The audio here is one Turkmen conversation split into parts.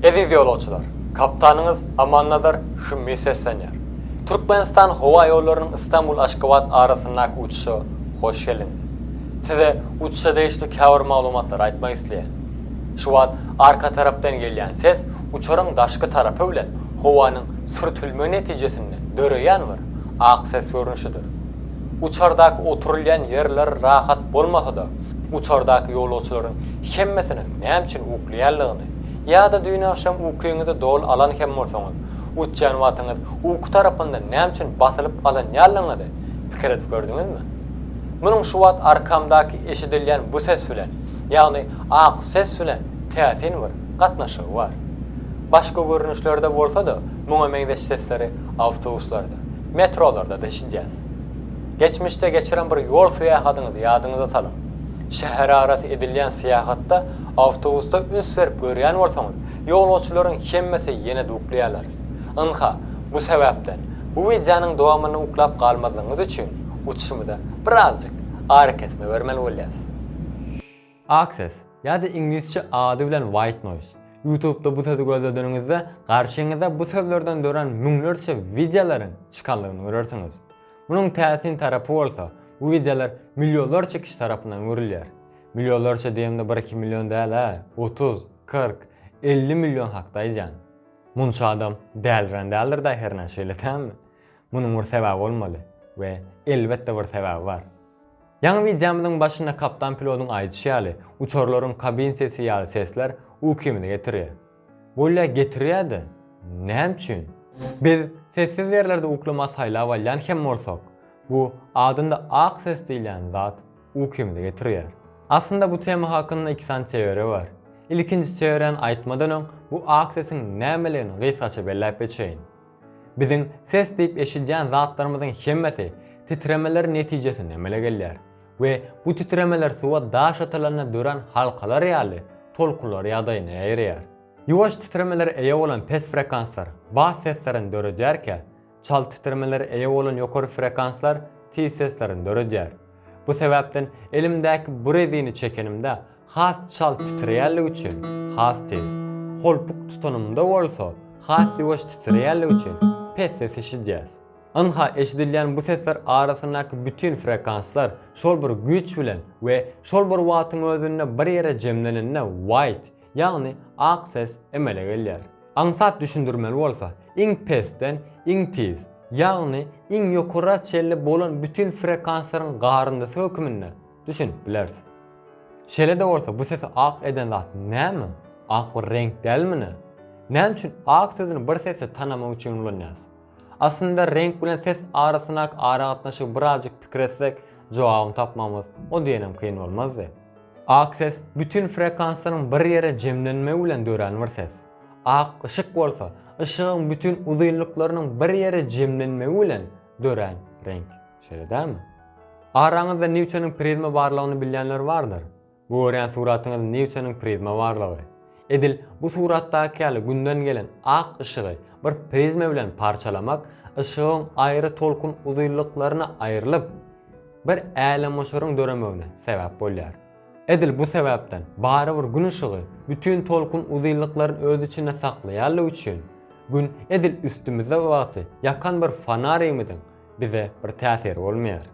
Eziz ýolagçylar! Kapitanyňyz Amannazar Hümmi seslenýär. Türkmenistan howa ýollarynyň Istanbul-Aşgabat arasyndaky uçuşa hoş geldiňiz. Size uçuşa degişli käbir maglumatlary aýtmak isleýän. Şu wagt arka tarapdan gelýän ses uçaryň daşky tarapy bilen howanyň sürtülmegi netijesinde döreýän bir ak ses görnüşidir. Uçardaky oturylýan ýerler rahat bolmasa-da, uçardaky ýolagçylaryň hemmesiniň näme üçin uklýanlygyny, ýa-da düýn agşam ukyňyzy doly alan hem bolsaňyz, uçýan wagtyňyz uky tarapyndan näme üçin basylyp alynýanlygyňyzy pikir edip gördüňizmi? Munuň şu wagt arkamdaky eşidilýän bu ses bilen, ýagny ak ses bilen täsin bir gatnaşygy bar. Başga görnüşlerde bolsa-da muňa meňzeş sesleri awtobuslarda, metrolarda-da eşidýäs. Geçmişde geçiren bir ýol syýahatyňyzy ýadyňyza salyň. Şäherarasy edilýän syýahatda Awtobusda üns berip görýän bolsaňyz, ýolagçylaryň hemmesi ýene-de uklaýarlar. Ynha, bu sebäpden, bu wideonyň dowamyny uklap galmazlygyňyz üçin uçuşymyza birazjyk arakesme bermeli bolýarys. Access, ýa-da iňlisçe ady bilen White Noise. Youtube-da bu sözi gözledeniňizde, garşyňyza bu sözlerden dörän müňlerçe wideolaryň çykandygyny görersiňiz. Munuň täsin tarapy bolsa, bu wideolar millionlarça kişi tarapyndan görülýär. Millionlarça diýemde bir iki million däl-ä, otuz, kyrk, elli million hakda aýdýan. Munça adam dälirän däldir-dä hernä, şeýle dälmi? Munuň bir sebäbi bolmaly we elbetde bir sebäbi bar. Ýaňy wideomyzyň başynda kaptan pilodyň aýdyşy ýaly, uçarlaryň kabin sesi ýaly sesler ukymyzy getirýär. Bolýa getirýä-de, näme üçin? Biz sessiz ýerlerde uklama saýlap alýan hem bolsak, bu adynda ak ses diýilýän zat ukymyzy getirýär. Aslynda bu tema hakynda iki sany teoriýa bar. Ilkinji teoriýany aýtmadan öň bu ak sesiň nämeligini gysgaça belläp geçeýin. Biziň ses diýip eşidýän zatlarymyzyň hemmesi titremeler netijesinde emele gelýär. We bu titremeler suwa daş atylanda dörän halkalar ýaly tolkunlar ýagdaýyna ýaýraýar. Ýuwaş titremelere eýe bolan pes frekanslar bas seslerini döredýärkä, çalt titremelere eýe bolan ýokary frekanslar tiz seslerini döredýär. Bu sebäpden elimdäki bu rezini çekenimde has çalt titreýänligi üçin has tiz, holpuk tutanymda bolsa has ýuwaş titreýänligi üçin pes ses eşidýäs. Ynha, eşidilýän bu sesler arasyndaky bütin frekanslar şol bir güýç bilen we şol bir wagtyň özünde bir ýere jemlenende white, ýagny ak ses emele gelýär. Aňsat düşündirmeli bolsa, iň pesden iň tiz, ýagny iň ýokara çenli bolan bütin frekanslaryň garyndysy höküminde düşünip bileris. Şeýle-de bolsa, bu sesi ak eden zat näme? Ak bir reňk dälmi nä? Näme üçin ak sözüni bir sesde tanamak üçin ulanýarys? Aslynda reňk bilen ses arasyndaky aragatnaşygy birazjyk pikir etsek, jogabyny tapmagymyz o diýenem kyn bolmazdy. Ak ses bütin frekanslaryň bir ýere jemlenmegi bilen dörän bir ses. Ak yşyk bolsa, yşygyň bütin uzynlyklarynyň bir ýere jemlenmegi bilen dörän reňk. Şeýle dälmi? Araňyzda Nýutonyň prizma barlygyny bilýänler bardyr. Bu görýän suratyňyz Newtonyň prizma barlygy. Edil bu suratdaky ýaly Günden gelen ak yşygy bir prizma bilen parçalamak yşygyň aýry tolkun uzylyklaryna aýrylyp, bir älemgoşaryň döremegine sebäp bolýar. Edil bu sebäpden barybir Gün yşygy bütin tolkun uzylyklaryny öz içinde saklaýanlygy üçin, Gün edil üstümizde wagty ýakan bir fonarimiziň bize bir täsiri bolmaýar.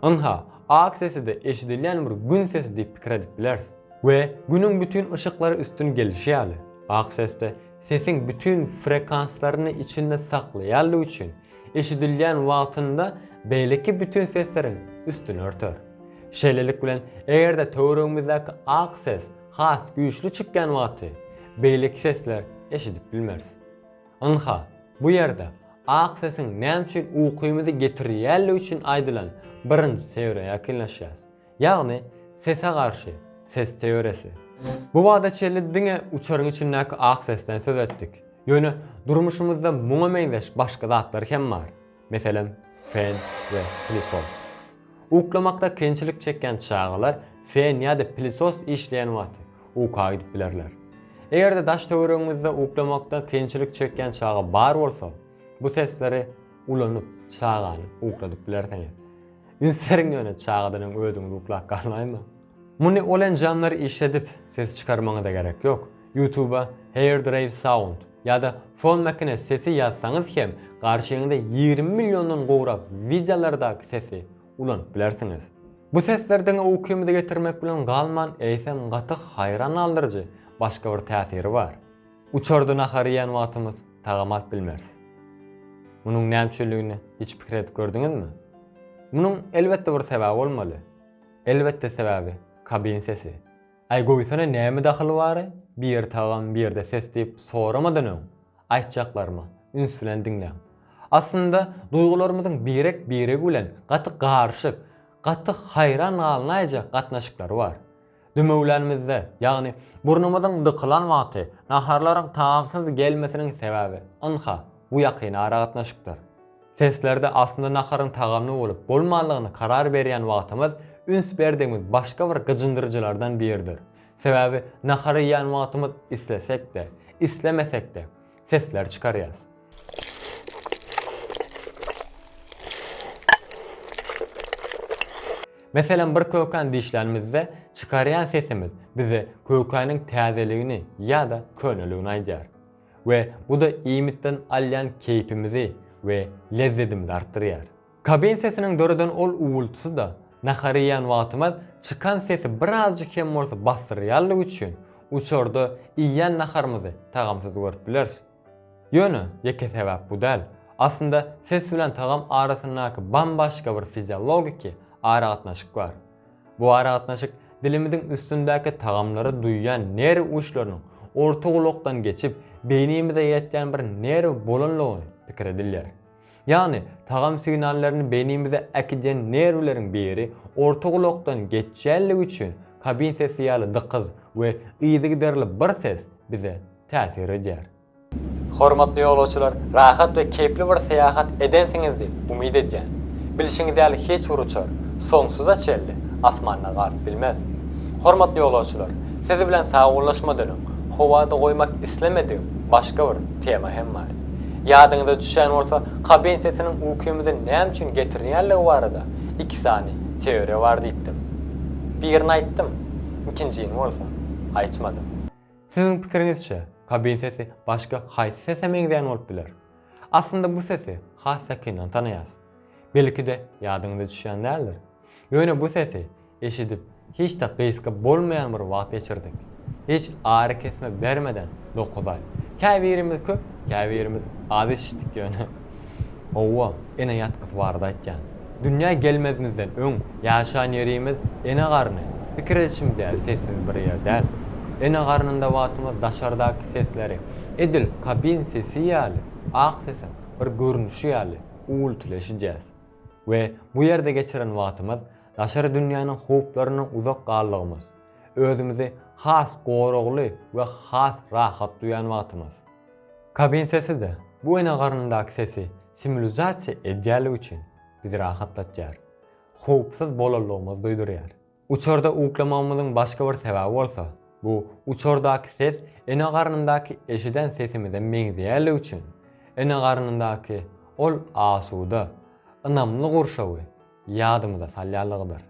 Ynha, ak sesi-de eşidilýän bir Gün sesi diýip pikir edip bileris. We Günüň bütin yşyklary üstün gelişi ýaly, ak ses-de sesiň bütin frekanslaryny içinde saklaýanlygy üçin, eşidilýän wagtynda beýleki bütin sesleriň üstüni örter. Şeýlelik bilen, eger-de töweregimizdäki ak ses has güýçli çykýan wagty, beýleki sesler eşidip bilmeris. Ynha, bu ýerde ak sesiň näme üçin ukymyzy getirýänligi üçin aýdylan birinji teoriýa ýakynlaşýas. Ýagny, sese garşy ses teoriýasy. Bu bada çenli diňe uçaryň içindäki ak sesden söz etdik. Ýöne durmuşymyzda muňa meňzeş başga zatlar hem bar. Meselem, fen we pilisos. Uklamakda kynçylyk çekýän çagalar fen ýa-da pilisos işleýän wagty uka gidip bilerler. Eger-de daş-töweregiňizde uklamakda kynçylyk çekýän çaga bar bolsa, bu sesleri ulanyp çagany ukladyp bilersiňiz. Üns beriň ýöne çagadan öň özüňiz uklap galmaýma. Muny ol enjamlary işledip ses çykarmaňyza gerek ýok. Youtuba Hairdrive Sound ýa-da Fon Makine Sesi ýazsaňyz hem garşyňyza ýigrimi milliondan gowrak wideolardaky sesi ulanyp bilersiňiz. Bu sesler diňe ukymyzy getirmek bilen galman eýsem gaty haýran galdyryjy başga bir täsiri bar. Uçarda nahar iýen wagtymyz tagam alyp bilmeris. Munuň näme üçinligine hiç pikir edip gördüňizmi? Munuň elbetde bir sebäbi bolmaly. Elbetde sebäbi kabin sesi. Aý goýsana näme dahyly bary bir ýerde tagam bir ýerde ses diýip soramadan öň aýtjaklarymy üns bilen diňläň. Aslynda duýgularymyzyň birek biregi bilen gaty garyşyk, gaty haýran galnaýjak gatnaşyklary bar. Dümewlänimizde ýagny burnumyzyň dykylan wagty naharlaryň tagamsyz gelmesiniň sebäbi ynha bu ýakyn aragatnaşykdyr. Seslerde aslynda naharyň tagamly bolup, bolmanlygyny karar berýän wagtymyz üns berdigimiz başga bir gyjyndyryjylardan biridir. Sebäbi nahar iýýän wagtymyz islesek-de, islemesek-de, sesler çykarýas. Meselem, bir kökäni dişlänimizde, çykarýan sesimiz bize kökäniň täzeligini ýa-da köneligini aýdýar. We bu-da iýmitden alýan keýpimizi we lezzedimizi artdyrýar. Kabin sesiniň döreden ol uwwultysy-da nahar iýen wagtymyz çykan sesi birazjyk hem bolsa basdyrýanlygy üçin, uçarda iýen naharymyzy tagamsyz görüp bileris. Ýöne, ýeke sebäp bu däl. Aslynda ses bilen tagam arasyndaky bambaşga bir fiziologiki aragatnaşyk bar. Bu aragatnaşyk dilimiziň üstündäki tagamlary duýýan nerw uçlarynyň orta gulakdan geçip, beýnimize ýetýän bir nerw bolanlygy pikir edilýär. Ýagny, tagam signallaryny beýnimize äkidýän nerwleriň biri orta gulakdan geçýänligi üçin kabin sesi ýaly dykyz we yzygiderli bir ses bize täsir edýär. Hormatly ýolagçylar, rahat we keýpli bir syýahat edensiňiz diýip umyt edýän. Bilşiňiz ýaly hiç bir uçar, soňsuza çenli, asmanda galyp bilmez. Hormatly ýolagçylar, siz bilen sagbollaşmadan öň, howada goýmak islemedigim başga bir tema hem bar. Ýadyňyza düşýän bolsa, kabin sesiniň ukymyzy näme üçin getirilýänligi barada iki sany teoriýa bar diýipdim. Birini aýtdym, ikinjini bolsa aýtmadym. Siziň pikiriňizçe, kabin sesi başga haýsy sese meňzeýän bolup biler? Aslynda bu sesi has ýakyndan tanaýas. Belki-de ýadyňyza düşýän däldir. Ýöne bu sesi eşidip hiç-de gysga bolmaýan bir wagt geçirdik. Hiç arykesme bermeden dokuz aý. Käbirimiz köp, käbirimiz az eşitdik ýöne. Hawa, ene ýatgysy barada aýtýan. Dünýä gelmezimizden öň ýaşan ýerimiz ene garny, pikir edişimiz ýaly sessiz bir ýer däl. Ene garnynda wagtymyz daşardaky sesleri, edil kabin sesi ýaly, ak sesiň bir görnüşi ýaly uwwulty eşidýäs. We bu ýerde geçiren wagtymyz daşary dünýäniň howplaryndan uzak galdygymyz, özümizi has goragly we has rahat duýan wagtymyz. Kabin sesi-de, bu ene garnyndaky sesi simulizasiýa edýänligi üçin, bizi rahatlatýar, howpsuz bolanlygymyzy duýdurýar. Uçarda uklamagymyzyň başga bir sebäbi bolsa, bu uçardaky ses ene garnyndaky eşiden sesimize meňzeýänligi üçin, ene garnyndaky ol asuda, ynamly gurşawy Ýadymyza salýanlygydyr.